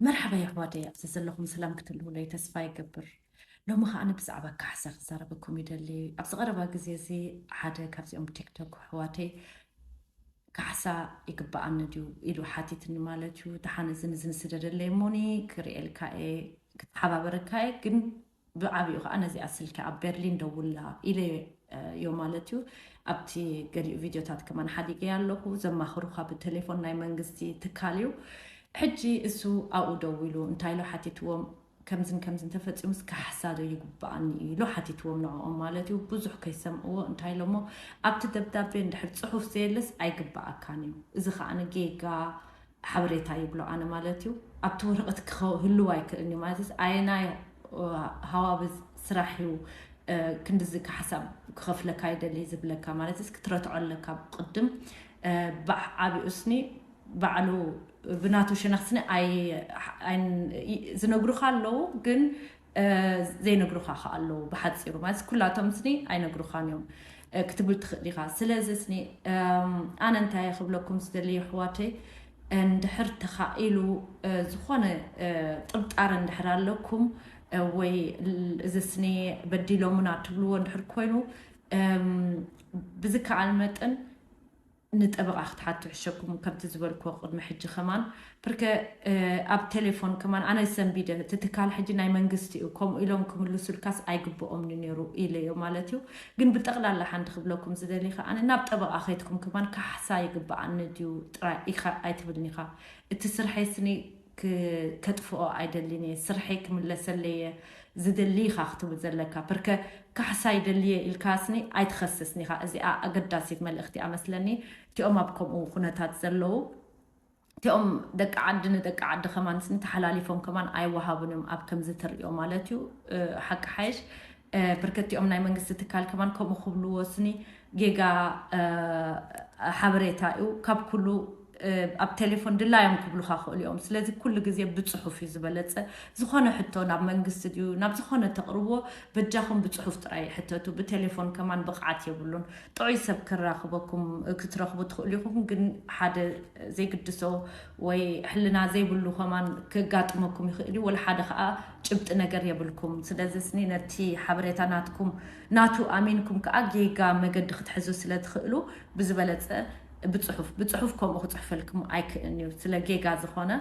መርሓባ የሕዋደይ ኣብ ዘዘለኹም ሰላም ክትህልዉለይ ተስፋ ይገብር ሎሚ ከኣ ብዛዕባ ካሕሳ ክዛረበኩም ይደሊ ኣብዚ ቀረባ ግዜ እዚ ሓደ ካብዚኦም ቲክቶክ ኣሕዋተይ ካሕሳ ይግባኣኒ ድዩ ኢሉ ሓቲትኒ ማለት እዩ ደሓን እዚ ንዚ ንስደደለይ እሞኒ ክርእየልካ እየ ክተሓባበረካ እየ ግን ብዓቢኡ ከኣ ነዚኣ ስልኪ ኣብ በርሊን ደውላ ኢለዮ ማለት እዩ። ኣብቲ ገሊኡ ቪድዮታት ከማን ሓዲገያ ኣለኹ። ዘማኽሩኻ ብተሌፎን ናይ መንግስቲ ትካል እዩ። ሕጂ እሱ ኣብኡ ደዊሉ እንታይ ኢሉ ሓቲትዎም ከምዝን ከምዝን ተፈጺሙስ ካሕሳ ዶ ይግብኣኒ ኢሉ ሓቲትዎም ንዕኦም ማለት እዩ። ብዙሕ ከይሰምዕዎ እንታይ ኢሎሞ ኣብቲ ደብዳቤ እንድሕር ጽሑፍ ዘየለስ ኣይግብኣካን እዩ። እዚ ከኣ ጌጋ ሓበሬታ ይብሎ ኣነ ማለት እዩ ኣብቲ ወረቐት ክህልው ኣይክእልን እዩ ማለት ኣየናይ ሃዋብ ስራሕ እዩ ክንድዚ ካሕሳብ ክኸፍለካ ይደሊ ዝብለካ ማለት ክትረትዖ ኣለካ ቅድም ብዓቢኡስኒ ባዕሉ ብናቱ ሸነክስኒ ዝነግሩካ ኣለዉ ግን ዘይነግሩኻ ከኣ ኣለዉ ብሓጺሩ ማለት ኩላቶም ስኒ ኣይነግሩኻን እዮም ክትብል ትኽእል ኢኻ ስለዚ ስኒ ኣነ እንታይ ክብለኩም ዝደሊ ኣሕዋተይ እንድሕር ተኻኢሉ ዝኾነ ጥርጣረ እንድሕር ኣለኩም ወይ እዚ ስኒ በዲሎምና ትብልዎ እንድሕር ኮይኑ ብዝከኣል መጠን ንጠበቓ ክትሓቱ ሕሸኩም ከምቲ ዝበልክዎ ቅድሚ ሕጂ ከማን ብርከ ኣብ ቴሌፎን ከማን ኣነ ሰንቢደ እቲ ትካል ሕጂ ናይ መንግስቲ እዩ ከምኡ ኢሎም ክምልሱልካስ ኣይግብኦምኒ ነይሩ ኢለዮ ማለት እዩ ግን ብጠቕላላ ሓንቲ ክብለኩም ዝደሊ ከኣ ናብ ጠበቓ ከይትኩም ከማን ካሕሳ ይግብኣኒ ድዩ ጥራይ ኢኻ ኣይትብልኒኻ እቲ ስርሐይ ስኒ ክተጥፍኦ ኣይደሊን እየ ስርሐይ ክምለሰለይ እየ ዝደሊ ኢኻ ክትብል ዘለካ ፕርከ ካሕሳ ይደሊ እየ ኢልካ ስኒ ኣይትኸስስን ኢኻ እዚኣ ኣገዳሲት መልእኽቲ እያ መስለኒ እቲኦም ኣብ ከምኡ ኩነታት ዘለዉ እቲኦም ደቂ ዓዲ ንደቂ ዓዲ ከማን ስኒ ተሓላሊፎም ከማን ኣይወሃቡን እዮም ኣብ ከምዚ ተርእዮ ማለት እዩ ሓቂ ሓይሽ ብርክቲኦም ናይ መንግስቲ ትካል ከማን ከምኡ ክብሉ ወስኒ ጌጋ ሓበሬታ እዩ ካብ ኩሉ ኣብ ቴሌፎን ድላዮም ክብሉካ ክእሉ እዮም ስለዚ ኩሉ ግዜ ብፅሑፍ እዩ ዝበለፀ ዝኾነ ሕቶ ናብ መንግስቲ ድዩ ናብ ዝኾነ ተቕርብዎ በጃኹም ብፅሑፍ ጥራይ ሕተቱ ብቴሌፎን ከማን ብቕዓት የብሉን ጥዑይ ሰብ ክራኽበኩም ክትረኽቡ ትኽእሉ ኢኹም ግን ሓደ ዘይግድሶ ወይ ሕልና ዘይብሉ ከማን ክጋጥመኩም ይኽእል እዩ ወላ ሓደ ከዓ ጭብጢ ነገር የብልኩም ስለዝስኒ ነቲ ሓበሬታ ናትኩም ናቱ ኣሚንኩም ከኣ ጌጋ መገዲ ክትሕዙ ስለ ትክእሉ ብዝበለጸ ብጽሑፍ ብጽሑፍ ከምኡ ክጽሕፈልክም ኣይክእን እዩ ስለ ጌጋ ዝኮነ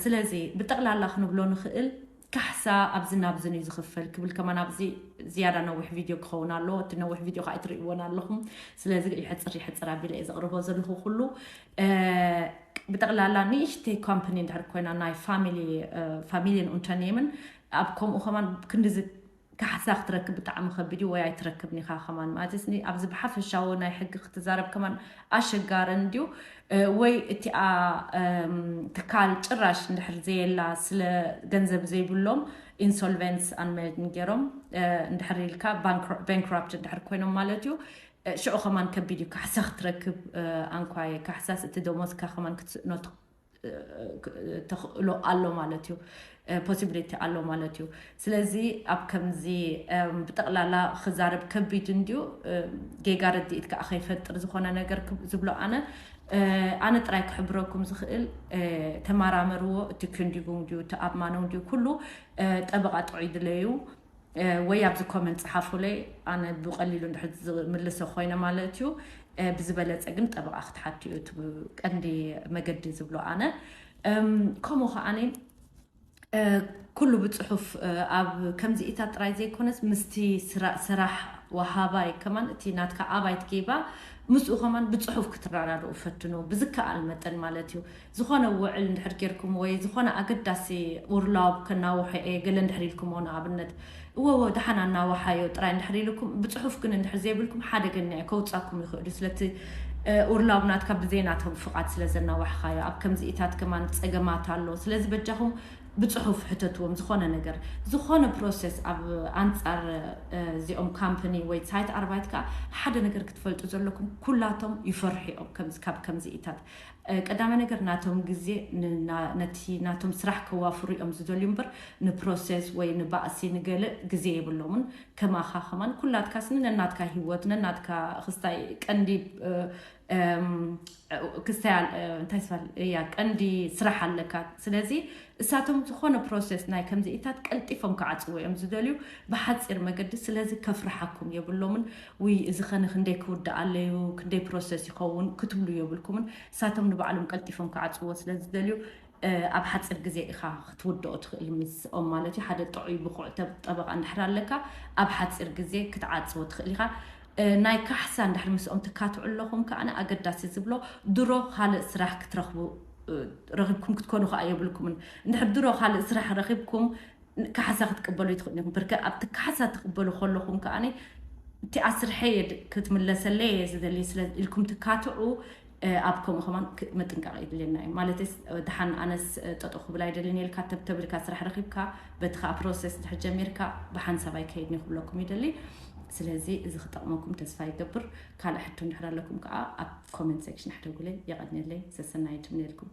ስለዚ ብጠቅላላ ክንብሎ ንክእል ካሕሳ ኣብዝን ኣብዝን እዩ ዝክፈል ክብል ከማን ኣብዚ ዝያዳ ነዊሕ ቪድዮ ክኸውን ኣለዎ እቲ ነዊሕ ቪድዮ ከኣ ኣይትርእይዎን ኣለኹም ስለዚ ይሕጽር ይሕጽር ኣቢለ እየ ዘቅርቦ ዘለኹ ኩሉ ብጠቕላላ ንእሽተይ ኮምፓኒ እንድሕር ኮይና ናይ ፋሚሊን ኡንተርኔምን ኣብ ከምኡ ከማን ክንዲዚ ካሕሳ ክትረክብ ብጣዕሚ ከቢድ እዩ ወይ ኣይትረክብን ኢኻ ከማን ማለት ስ ኣብዚ ብሓፈሻዊ ናይ ሕጊ ክትዛረብ ከማን ኣሸጋሪ እንድዩ ወይ እቲኣ ትካል ጭራሽ እንድሕር ዘየላ ስለ ገንዘብ ዘይብሎም ኢንሶልቨንስ ኣንመድን ገይሮም እንድሕር ኢልካ ባንክራፕት እንድሕር ኮይኖም ማለት እዩ ሽዑ ከማን ከቢድ እዩ ካሕሳ ክትረክብ ኣንኳየ ካሕሳስ እቲ ደሞዝካ ከማን ክትስእኖ ተኽእሎ ኣሎ ማለት እዩ ፖሲቢሊቲ ኣሎ ማለት እዩ ስለዚ ኣብ ከምዚ ብጠቕላላ ክዛረብ ከቢድ እንድዩ ጌጋ ርድኢት ከዓ ከይፈጥር ዝኾነ ነገር ዝብሎ ኣነ ኣነ ጥራይ ክሕብረኩም ዝኽእል ተማራመርዎ እቲ ክንዲጉንግ ድዩ እቲ ኣብማኖንግ ድዩ ኩሉ ጠበቓ ጥዑይ ድለዩ ወይ ኣብዚ ኮመንት ጽሓፉለይ ኣነ ብቀሊሉ እንድሕር ዝምልሶ ኮይነ ማለት እዩ ብዝበለጸ ግን ጠበቃ ክትሓቱ እዩ እቲ ቀንዲ መገዲ ዝብሎ ኣነ ከምኡ ከዓኒ ኩሉ ብጽሑፍ ኣብ ከምዚኢታት ጥራይ ዘይኮነስ ምስቲ ስራሕ ወሃባይ ከማን እቲ ናትካ ኣባይት ጌባ ምስኡ ከማን ብጽሑፍ ክትራዳድኡ ፈትኑ ብዝከኣል መጠን ማለት እዩ ዝኾነ ውዕል እንድሕር ጌርኩም ወይ ዝኾነ ኣገዳሲ ኡርላውብ ከናውሖ እየ ገለ እንድሕር ኢልኩሞ ንኣብነት እወወ ደሓን ኣናውሓዮ ጥራይ እንድሕር ኢሉኩም ብጽሑፍ ግን እንድሕር ዘይብልኩም ሓደገኛ እዩ ከውጻኩም ይኽእሉ ስለቲ ኡርላውብ ናትካ ብዘይናቶም ፍቓድ ስለ ዘናዋሕኻዮ ኣብ ከምዚኢታት ከማን ጸገማት ኣሎ ስለዚ በጃኹም ብጽሑፍ ሕተትዎም ዝኾነ ነገር ዝኾነ ፕሮሰስ ኣብ ኣንጻር እዚኦም ካምፕኒ ወይ ሳይት ኣርባይት ከዓ ሓደ ነገር ክትፈልጡ ዘለኩም ኩላቶም ይፈርሑ እዮም ከምዚ ካብ ከምዚኢታት ቀዳማይ ነገር ናቶም ግዜ ነቲ ናቶም ስራሕ ከዋፍሩ እዮም ዝደልዩ እምበር ንፕሮሰስ ወይ ንባእሲ ንገለ ግዜ የብሎምን ከማኻ ከማን ኩላትካ ስኒ ነናትካ ሂወት ነናትካ ክስታይ ቀንዲ ክስታይ እንታይ ስባል እያ ቀንዲ ስራሕ ኣለካ ስለዚ እሳቶም ዝኾነ ፕሮሰስ ናይ ከምዚኢታት ቀልጢፎም ክዓፅዎ እዮም ዝደልዩ ብሓፂር መገዲ ስለዚ ከፍርሓኩም የብሎምን ውይ እዚ ከ ንክንደይ ክውድኣለዩ ክንደይ ፕሮሰስ ይኸውን ክትብሉ የብልኩምን ንሳቶም ንባዕሎም ቀልጢፎም ክዓጽዎ ስለ ዝደልዩ ኣብ ሓጽር ግዜ ኢኻ ክትውድኦ ትኽእል ምስኦም ማለት እዩ ሓደ ጥዑይ ብቑዕ ጠበቓ እንድሕር ኣለካ ኣብ ሓጺር ግዜ ክትዓጽዎ ትኽእል ኢኻ ናይ ካሕሳ እንድሕር ምስኦም ትካትዑ ኣለኹም ከኣ ኣገዳሲ ዝብሎ ድሮ ካልእ ስራሕ ክትረኽቡ ረኺብኩም ክትኮኑ ከኣ የብልኩምን እንድሕር ድሮ ካልእ ስራሕ ረኺብኩም ካሕሳ ክትቅበሉ ኣይትኽእሉን ኢኹም። ብርከ ኣብቲ ካሕሳ ትቕበሉ ከለኹም ከኣ እቲ ኣስርሐየ ክትምለሰለይ እየ ዝደሊ ስለ ኢልኩም ትካትዑ ኣብ ከምኡ ከማን ምጥንቃቕ የድልየና እዩ ማለት ድሓን ኣነስ ጠጠው ክብል ኣይደልን የልካ ተብተብልካ ስራሕ ረኺብካ በቲ ከዓ ፕሮሰስ ድሕር ጀሚርካ ብሓንሳብ ኣይከይድን ክብለኩም ይደሊ ስለዚ እዚ ክጠቕመኩም ተስፋ ይገብር ካልእ ሕቶ እንድሕር ኣለኩም ከዓ ኣብ ኮመንት ሴክሽን ኣሕደጉለይ የቐንየለይ ሰሰናይ ትምነየልኩም